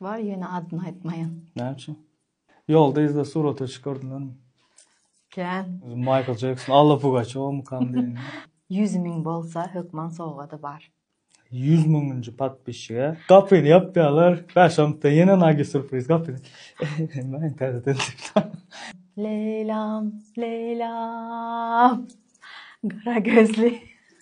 Bar ýöne adyny aýtmaýan. Näme üçin? Ýolda yzda surata çykardylar. Kän. Michael Jackson, Alla Pugaçowmykam diýen. Ýüz müň bolsa hökman sowgady bar. Ýüz müňünji podpisçige gapyny ýapýalar, bäş minutdan ýene nagi surpriz gapyny. Eýemäň täzeden diýip. Leýlam, Leýlam, gara gözli.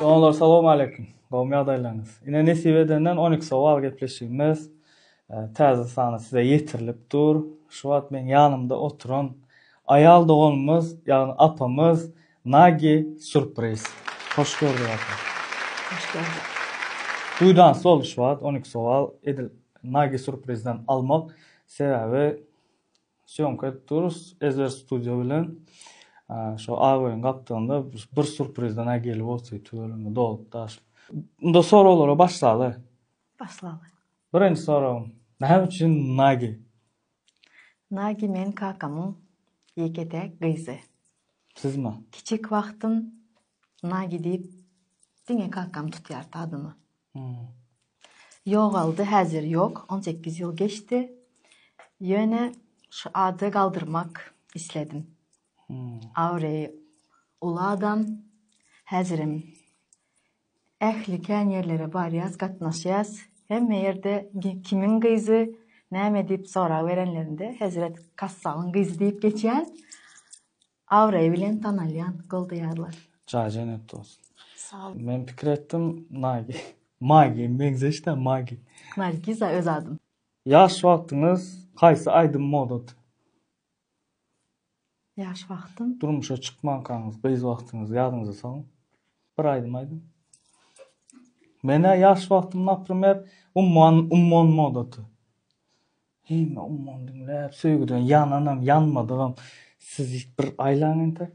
Doganlar Salam Aleýkum. Gowmy ýagdaýlaryňyz? Ine nesip edenden on iki sowal gepleşigimiz täze sany size ýetirilip dur. Şu wagt meň ýanymda oturan aýal doganymyz ýagny apamyz Nagi surpriz. Hoş gördük Ata. Hoş gördük. Duýdan sol şu wagt on iki sowal edil Nagi surprizden almak sebäbi sýomka edip durus ezber studio bilen şo Agoýyň gapdalynda bir surprizden a geli bolsy tüweleme dolup daşyp. Onda soraglara başlaly. Başlaly. Birinji soragym näme üçin Nagi? Nagi men kakamyň ýeke-täk gyzy. Sizmi? Kiçik wagtym Nagi diýip diňe kakam tutýardy adymy. Ýogaldy, häzir ýok, on sekiz ýyl geçdi. Ýöne şu ady galdyrmak isledim. Awreý uly adam, häzirem Ähli kän ýerlere barýas gatnaşýas hemme ýerde kimiň gyzy näme diýip sorag berenlerinde hezret kassabyň gyzy diýip geçýän abraý bilen tanalýan goldaýarlar. Jaý jennet bolsun. Sagbol. Men pikir etdim Nagi. Magi meňzeş da Magi. Nargiza öz adym. Ýaş wagtyňyz haýsy aýdym moda ty. Ýaş wagtym. Durmuşa çykmankaňyz gyz wagtyňyzy ýadyňyza salyň. Bir aýdym aýdyň. Menä ýaş wagtym naprimer Ummon Ummon modaty. Hemme Ummon diňläp söýgüden ýananam ýanmadygam siz bir aýlaň entek.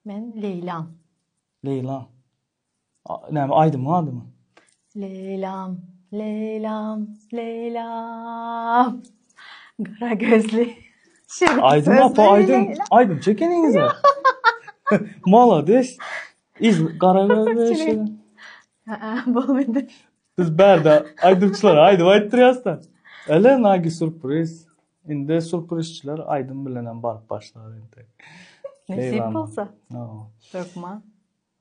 Men Leýlaň. Leýlaň. Näme aýdymyň adymy? Leylam, Leylam, Leylam. Gara gözli. Aýdym apa aýdym. Aýdym çekeniňiz. Malades. Iz gara gözli. Ha, bolmady. Biz bärde aýdymçylara aýdym aýtdyrýasda. Ele nagi surpriz. Indi surprizçiler aýdym bilen hem baryp başlar indi. Nesip bolsa. Türkmen.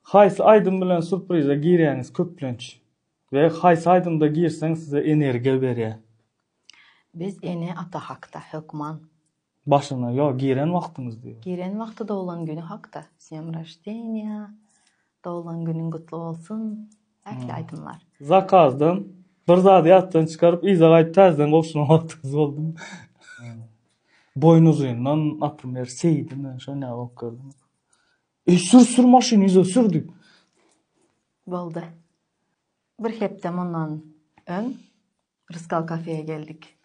Haýsy aýdym bilen surpriza girýäňiz köplenç? We haýsy aýdymda girseň size energiýa berýär? Biz ene ata hakda, hökman. Başyna ýok giren wagtyňyz diýip. Giren wagty doglan güni hakda. S dňem roždeniýa, Doglan günüň gutly bolsun. Ähli aýdymlar. Zakazdan bir zady ýatdan çykaryp yza gaýdyp täzeden gowşuran wagtyňyz boldumy? Boýnuzyndan, naprimer, seýdimi, şo näme bolup gördiňiz? Ey sür sür maşyny yza sür diýip. Boldy. Bir hepde mundan öň Rysgal kafeýe geldik.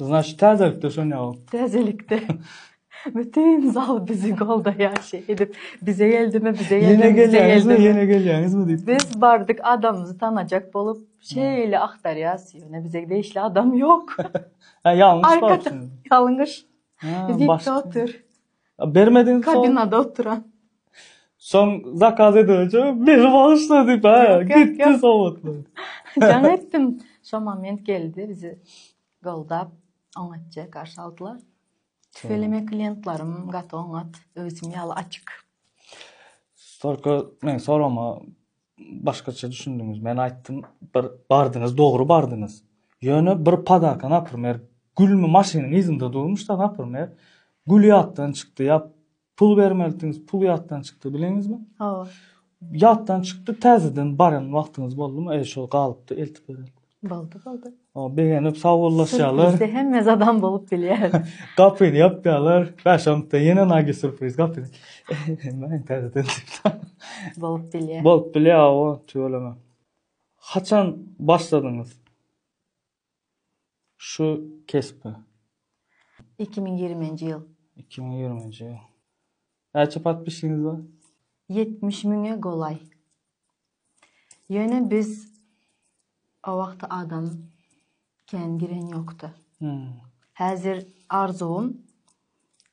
Znaç täzelikde şon ýaly. Täzelikde. Bütün zal bizi goldaýar şey edip bize geldimi bize geldimi ýene gelýäňizmi ýene gelýäňizmi diýip. Biz bardyk adamymyzy tanajak bolup şeýle agtarýas ýöne bize degişli adam ýok. Ha ýalňyş barsyň. Ýalňyş. Biz ýetdi otur. Bermediň soň. Kabinada oturan. Soň zakaz edince meni bagyşla diýip, ha, gitdi sowatly. Jaň etdim. Şo moment geldi bizi goldap, oňatja garşy aldylar. Tüweleme klientlarim gaty oňat, özüm ýaly açyk. Stolko men sorama Başgaça düşündiňiz. Men aýtdym, bir bardyňyz, dogry bardyňyz. Ýöne bir padaka, naprimer, gülmi maşynyň yzynda durmuşda, naprimer, gül ýatdan çykdy ýa pul bermelitiňiz, pul ýatdan çykdy, bileňizmi? Hawa. Ýatdan çykdy, täzeden baran wagtyňyz boldumy? Eý, şol galypdy, eltip berelim. Boldy, boldy. O begenip sawullaşýarlar. Bizde hemme zadam bolup bilýär. Gapyny ýapýarlar. Bäş onda ýene nagi surpriz gapyny. Men täzeden bolup bilýär. Bolup bilýär o tüweleme. Haçan başladyňyz? Şu kesbi. 2020-nji ýyl. 2020-nji ýyl. Näçe patpisiniz bar? 70 müňe golaý. Ýöne biz o wagty adam kän giren ýokdy. Häzir arzuwym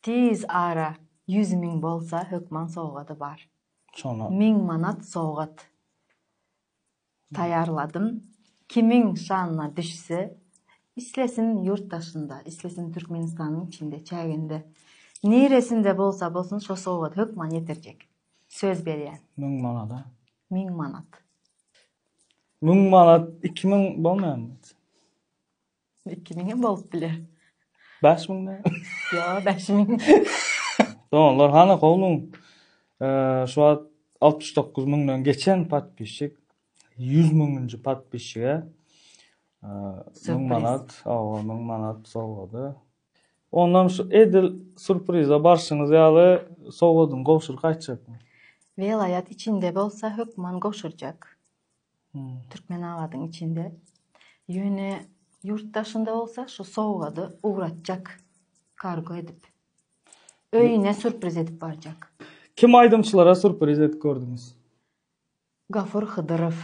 tiz ara ýüz müň bolsa hökman sowgady bar. Şoňa. Müň manat sowgat taýýarladym. Kimiň şanyna düşse, islesin ýurt daşynda, islesin Türkmenistanyň içinde, çäginde, niresinde bolsa bolsun şo sowgady hökman ýetirjek. Söz berýän. Müň manada. Müň manat. Müň manat iki müň bolmaýarmy? Iki müň hem bolup biler. Bäş müň näme? Ýa, bäş müň. Doganlar, hana howluň şu wagt altmyş dokuz müňden geçen podpisçik ýüz müňünji podpisçige müň manat, hawa, müň manat sowgady. Ondan şu edil surpriza barşyňyz ýaly sowgadyňy gowşuryp gaýtjakmy? Welaýat içinde bolsa hökman gowşurjak. Türkmenabadyň içinde. Ýöne ýurt daşynda bolsa şu sowgady ugratjak kargo edip. Öýüne surpriz edip barjak. Kim aýdymçylara surpriz edip gördüňiz? Gafur Hydyrow.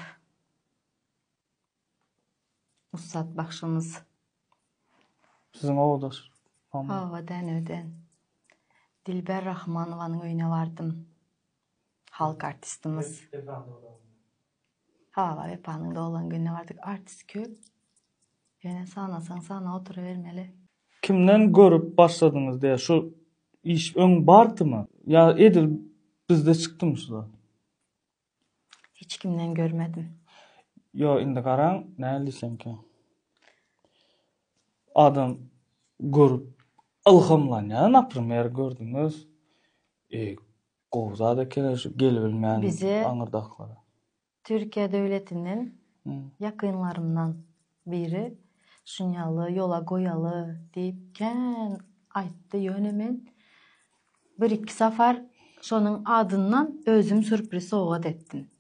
Ussat bagşymyz. Siziň owdaş. Owadan öwden. Dilber Rahmanowanyň öýüne bardym. Halk artistimiz. Hawa, Wepanyň doglan gününe bardyk. Artist köp. Ýöne sanasaň sanap oturybermeli. Kimden görüp başladyňyz diýä şu iş öň bardymy? Ýa edil bizde çykdymy şu zat? Hiç kimden görmedim. Ýo indi garaň näl diýsemkä. Adam görüp ylhamlanýar naprimer gördüňiz e gowy zat ekene şu gelibilmän aňyrdaklara. Türkiýe döwletinden ýakynlarymdan Biri, Şunýaly ýola goýaly diýip kän aýtdy, ýöne men bir-iki sapar şonuň adyndan özüm sürpriz sowgat etdim.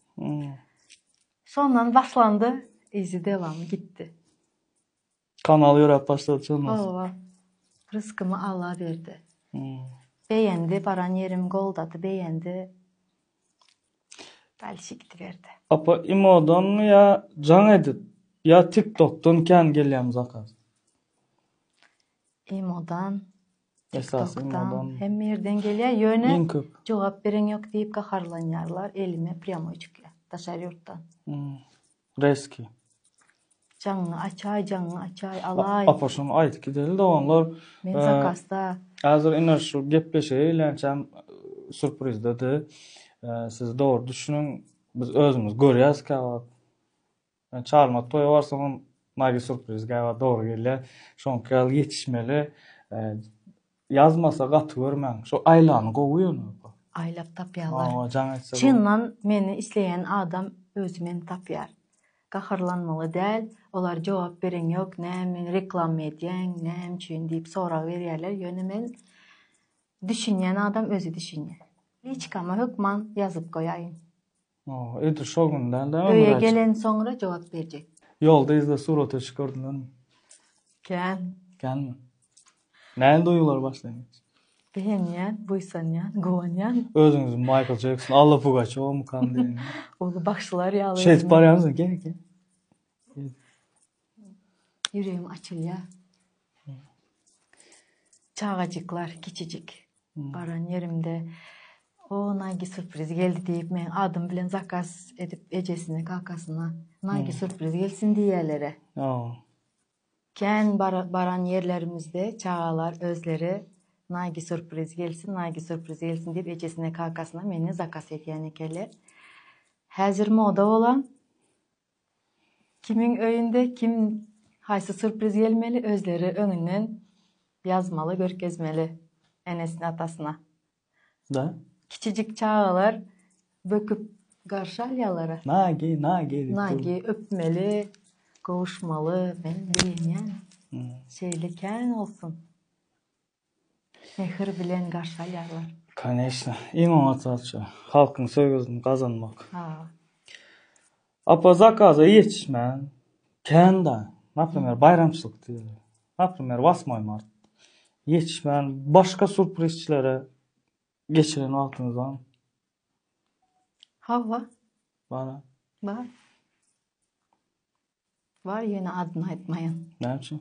Şondan başlandy, yzy dewamy gitdi. Kanal ýöräp başlady şondan soň. Hawa. Ryskymy Alla berdi. Beýendi, baran ýerim goldady, beýendi. Apa imodanmy ýa jaň edip ýa tik tokdan kän gelýämi zakaz. Imodan tik tokdan hemme ýerden gelýär ýöne jogap beren ýok diýip gaharlanýarlar elime prýamoý çykýar daşary ýurtdan. Reski. Jaňňy açaý jaňňy açaý alaý. Apa şony aýt gideli doganlar. Men zakasda. Hazir ine şu gepleşige eýlänçäm surprizdedi. Siz dogry düşüniň. Biz özümiz görýäs käwagt. Men çalmat toýa barsagam nagi surpriz käwagt dogry gelýär. Şoňky ýaly ýetişmeli. Ýazmasa gaty görmäň. Şu Aýlany gowy ýöne oka. Aýlap tapýalar. Hawa jaň etse gowy. Çyndan meni isleýän adam özi meni tapýar. Gaharlanmaly däl, olar jogap bereň ýok näme reklama edýäň, näme üçin diýip sorag berýärler ýöne men düşünýän adam özi düşünýär. Liçkama hökman ýazyp goýaýyň. Oh, edil şol gün däl de. Öýe gelen soňra jogap berjek. Ýolda yzda surata düşüp gördüňizmi? Kän. Känmi? Näme duýgular başlaýar? Begenýän, buýsanýan, guwanýan. Özüňizi Michael Jackson, Alla Pugaçowa kam diýen. Uly bagşylar ýaly. Şeýdip barýarmysyň? Gel, gel. Ýüregim açylýar. Çagajyklar, kiçijik. Baran ýerimde O, Naýgi surpriz geldi diýip, meň adym bilen zakaz edip ejesine, kakasyna Naýgi surpriz gelsin diýýäler-ä. Kän baran ýerlerimizde çagalar özleri Naýgi surpriz gelsin, Naýgi surpriz gelsin diýip ejesine, kakasyna meni zakaz edýän ekenler. Häzir moda bolan Kimiň öýünde kim haýsy surpriz gelmeli özleri öňünden ýazmaly görkezmeli enesine atasyna. Da. Kiçijik çagalar böküp garşy alýalara. Nagi nagi diýip. Nagi öpmeli gowuşmaly men begenýän şeýle kän bolsun. Mähir bilen garşy alýarlar. Koneçna. Iň oňat zadça. Halkyň söýgüsini gazanmak. Ha. Apa zakaza ýetişmän kän da. Naprimer baýramçylyk diýeli. Naprimer wasmoý mart. Ýetişmän başga surprizçilere geçiren wagtyňyz barmy? Hawa. Bara. Bar. Bar ýöne adyny aýtmaýan. Näme üçin?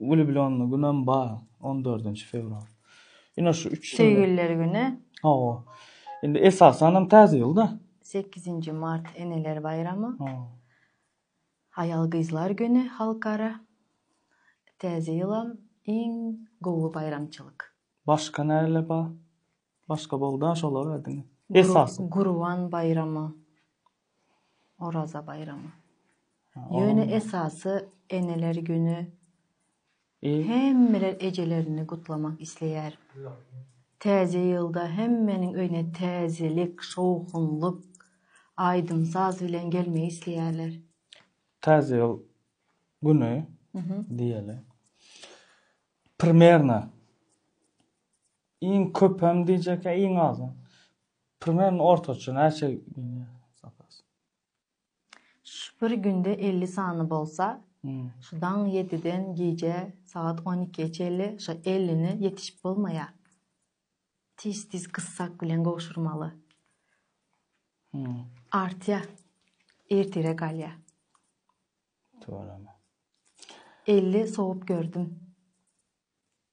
Wlýublýonly günem bar, on dördünji fewral. Ine şu üç. Söýgüliler güni. Hawa. Indi esasanam Täze ýylda. Sekizinji mart eneler baýramy. Aýal-gyzlar güni halkara. Täze ýylam iň gowy baýramçylyk. Başga näler bar? Başga boldy-a şolar diňe. Esasy. Gurban baýramy. Oraza baýramy. Ýöne esasy eneler güni. Hemmeler ejelerini gutlamak isleýär. Täze ýylda hemmeniň öýüne täzelik, şowhunlyk, aýdym-saz bilen gelmegi isleýärler. Täze ýyl güni diýeli. Primerno iň köpem diýjek ýa iň azam. Primern ortaça näçe gidýär zapas? Şu bir günde elli sany bolsa, şu daň ýediden gije sagat on ikiýe çenli şo ellini ýetişip bolmaýar. Tiz tiz gyssak bilen gowşurmaly. Artýar. Ertire galýar. Tüweleme. Elli sowup gördüm.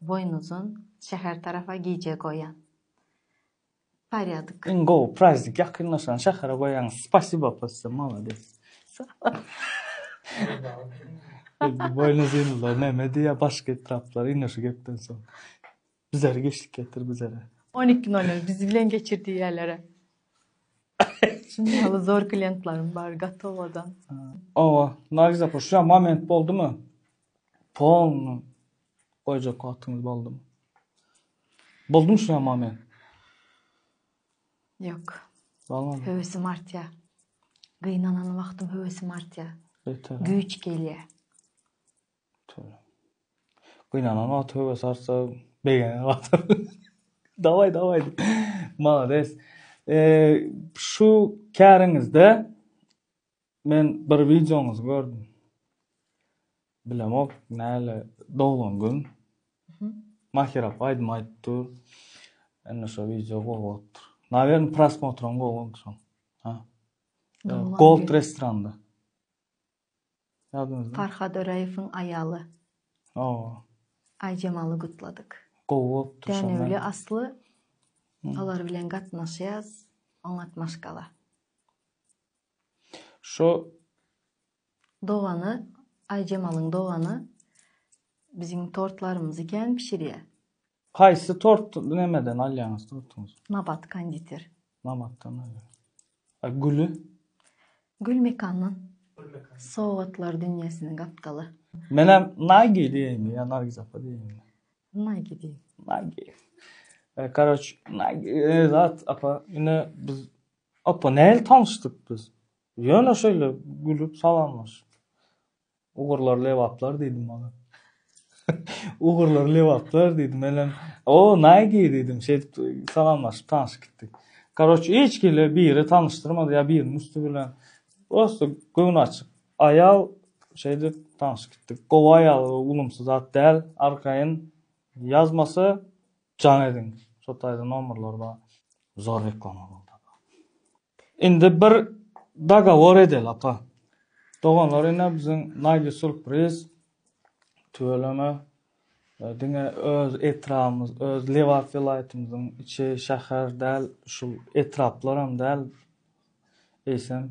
Boýnuzyn şäher tarapa gije goýaň. Parýadyk. Iň gowy praznik ýakynlaşan şähere goýaňyz. Spasibo posse malades. Boýnuzynlar neme diýýär başga etraplar ine şu gepden soň. Bizere geçlik getir bizere. On iki nol nol biz bilen geçir diýýälere. Şunuň ýaly zor kliýentlarim bar gatowadan. Oba Nargiz apa şuja moment boldymy. Polny goýjak wagtyňyz boldumy? Boldum şu ýama men. Ýok. Bolmady. Höwesim artýar. Gynanan wagtym höwesim artýar. Beter. Güýç gelýär. Tüwin. Gynanan wagty höwes artsa begenen wagty. Dawaý, dawaý. Malades. Eee, şu käriňizde Men bir wideoňyzy gördüm. Bilemok, näle doglan gün. Mahir apa aýdym aýdyp dur. Indi şu wideo gowy bolupdyr. Nawern prosmotram gowy boldy şoň. Ha. Gold restoranda. Ýadyňyzda. Farhad Öreýewiň aýaly. O. Aýjemaly gutladyk. Gowy bolupdyr şoň. Dänewli asly olar bilen gatnaşýas. Oňat maşgala. Şu dogany Aýjemalyň dogany biziň tortlarymyzy kän bişirýä. Haýsy tort nämeden alýaňyz tortuňyzy? Nabat konditer. Nabatdan alýar. A güli? Gül mekandan. Sowgatlar dünýesiniň gapdaly. Menem Naýgi diýeýinmi ýa Nargiz apa diýeýinmi? Naýgi diý. Naýgi. Karoç, Naýgi zat apa ine biz Apa, nähili tanyşdyk biz? Ýöne şeýle gülüp salamlaşyp. Ugurlar lebaplar diýdim oňa. Ugurlar lebaplar diýdim. Menem, o, nägi diýdim. Şeýdip salamlaşyp tanyşyp gitdik. Karoç, hiç kile biri tanyşdyrmady ýa biriniň üsti bilen. Prosta göwni açyk aýal şeýdip tanyşyp gitdik. Gowy aýal ulumsy zat däl. Arkaýyn ýazmasa Jan ediň şo taýda nomerler bar. Zor reklama boldy apa. Indi bir dagowor edeli apa. Doganlar ine biziň Naýli surpriz. Tüweleme. Diňe öz etrabymyz, öz Lebap welaýatymyzyň içi, şäher däl, şul etraplar hem däl. Eýsem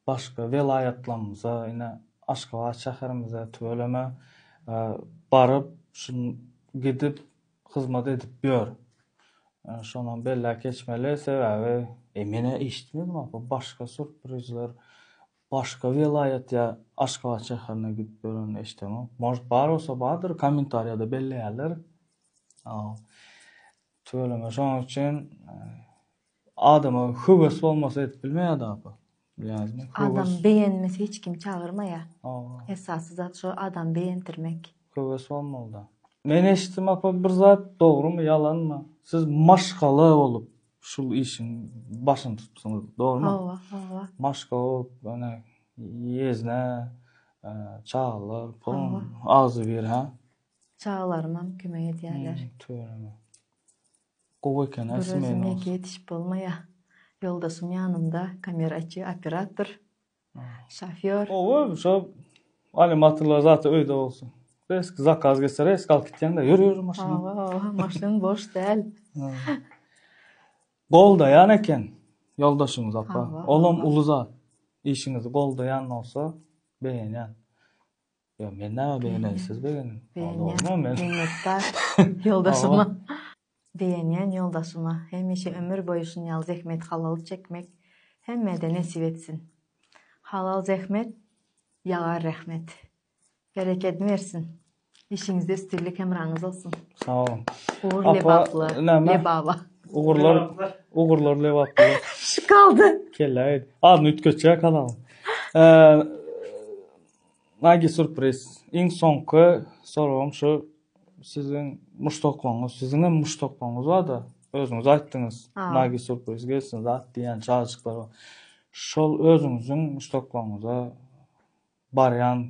Başga welaýatlarymyza, ine, Aşgabat şäherimize, tüweleme, baryp, şu gidip, hyzmat edip ýör. Şonam belläp geçmeli, sebäbi. Men eşitmedim, apa, başga surprizler başga welaýat ýa Aşgabat şäherine gidip ýörenini eşidemok. Может, bar bolsa bardyr, kommentariýada belleýärler. Tüweleme, şonuň üçin Adama höwes bolmasa edip bilmeýär da apa. Bilýäňizmi? Adam beýenmese hiç kim çagyrmaýar. Hawa. Esasy zat şo adam beýendirmek. Höwes bolmaly da. Men eşitdim apa bir zat dogrymy ýalanmy siz maşgala bolup şul işiň başyny tutupsyňyz dogrymy? Hawa hawa. Maşgala bolup ýöne ýezne çagalar pulun agzybir hä? Çagalarymam kömek edýärler. Tüweleme. Gowy eken a smenos. Ýetişip bolmaýa. Ýoldaşym ýanymda kameraçy operator şofýor. Gowy şo animatorlar zat öýde bolsun. Resk zakaz geçse resk alyp gitýäň da ýör ýör maşyn. Hawa maşyn boş däl. Goldaýan eken ýoldaşyňyz apa. Olam uly zat. Işiňizi goldaýan bolsa begenýän. Ýok, men näme begeneli, siz begenin. Begenýän, minnetdar ýoldaşyma. Begenýän ýoldaşyma hemişe ömür boýy şuny ýaly zähmet halaly çekmek hemmede nesip etsin. Halal zähmet, ýagar rehmet. Berekedi bersin. Işiňizde üstünlik hemraňyz bolsun. Sag boluň. Ugur lebaply, lebaba. Ugurlar, ugurlar lebaply. Şu galdy. Kelle aýdy. Adyny üýtgetjek adam. Nagi surpriz. Iň soňky soragym şu siziň muşdaklaryňyz, siziňem muşdaklaryňyz barda, özüňiz aýtdyňyz, Nagi surpriz gelsin zat diýýän çagajyklar bar. Şol özüňiziň muşdaklaryňyza barýan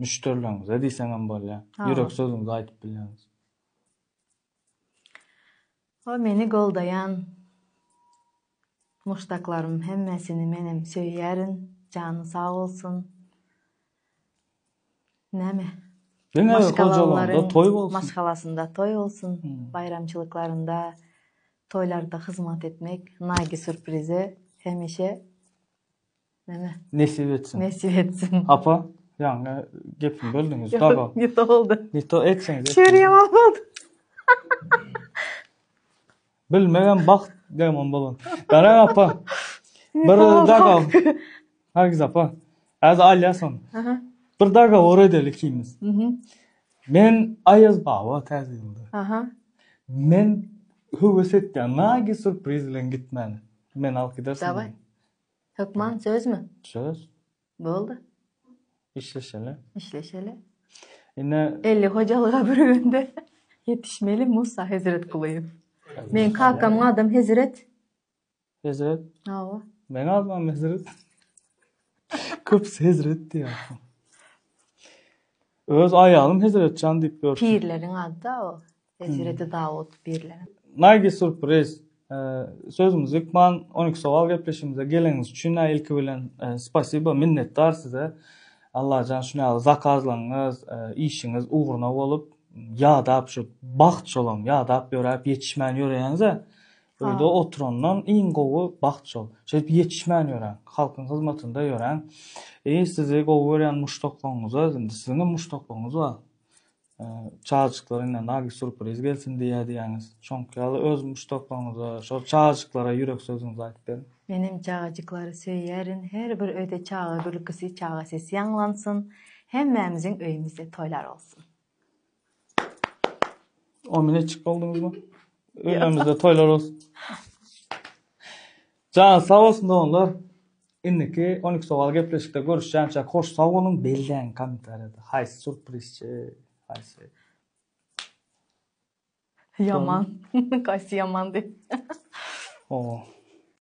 müşderileriňize diýseňem bolýar. Ýürek sözüňizi aýdyp bilýäňiz. O meni goldaýan muşdaklarym hemmesini menem söýýärin jany sag bolsun näme Diňe hojalygynda toý bolsun. Maşgalasynda toý bolsun. Baýramçylyklarynda, toýlarda hyzmat etmek, Nagi sürprize hemişe Mene. Nesip etsin. Nesip etsin. Apa, ýaňy gepimi böldüňiz. Dago. Ne to boldy? Ne to etseňiz. Şeri ýaman boldy. Bilmegem bagt demon bolan. Gara apa. Bir dago. Hergiz apa. Az alýasan. Aha. Bir dago or edeli ikimiz. Mhm. Men Aýaz baba täzeginde. Aha. Men höwes etdim. Nagi surpriz bilen gitmeli. Men alyp gidersin. Daway. Hökman sözmi? Söz. Boldy. Işleşeli. Işleşeli. Ine. Elli hojalyga bir günde ýetişmeli Musa Hezret Kulyýew. Men kakamyň adam Hezret. Hezret. Hawa. Men adam Hezret. Köp Hezret diýýär. Öz aýalym Hezretjan diýip ýör. Pirleriň ady o. Hezreti Dawud birlenen. Nagi surpriz. Sözümizi ýykman, on iki sowal gepleşigimize geleniňiz üçin-ä ilki bilen spasiba, minnetdar size. Allajan şuny ýaly zakazlaryňyz, işiňiz ugruna bolup, ýadap şu bagt şolam, ýadap ýöräp ýetişmän ýöreýäňiz-ä. Öýde oturandan iň gowy bagt şol. Şeýdip ýetişmän ýöräň, halkyň hyzmatynda ýöräň. Sizi gowy görýän muşdaklaryňyza, indi siziňem muşdaklaryňyz bar. Çagajyklar ine nagi surpriz gelsin diýýär diýýäňiz. Şoňky ýaly öz muşdaklaryňyza, şol çagajyklara ýürek sözüňizi aýdyp beriň. Menem çagajyklary söýýärin her bir öýde çaga gülkisi çaga sesi ýaňlansyn hemmämiziň öýümizde toýlar bolsun. Omine içip bolduňyzmy? Öýlerimizde toýlar bolsun. Janyňyz sag bolsun doganlar. Indiki on iki sowal gepleşikde görüşýänçäk hoş sag boluň belläň kommentariýada haýsy surprizçi haýsy Ýaman. Haýsy ýaman diýip. Ho.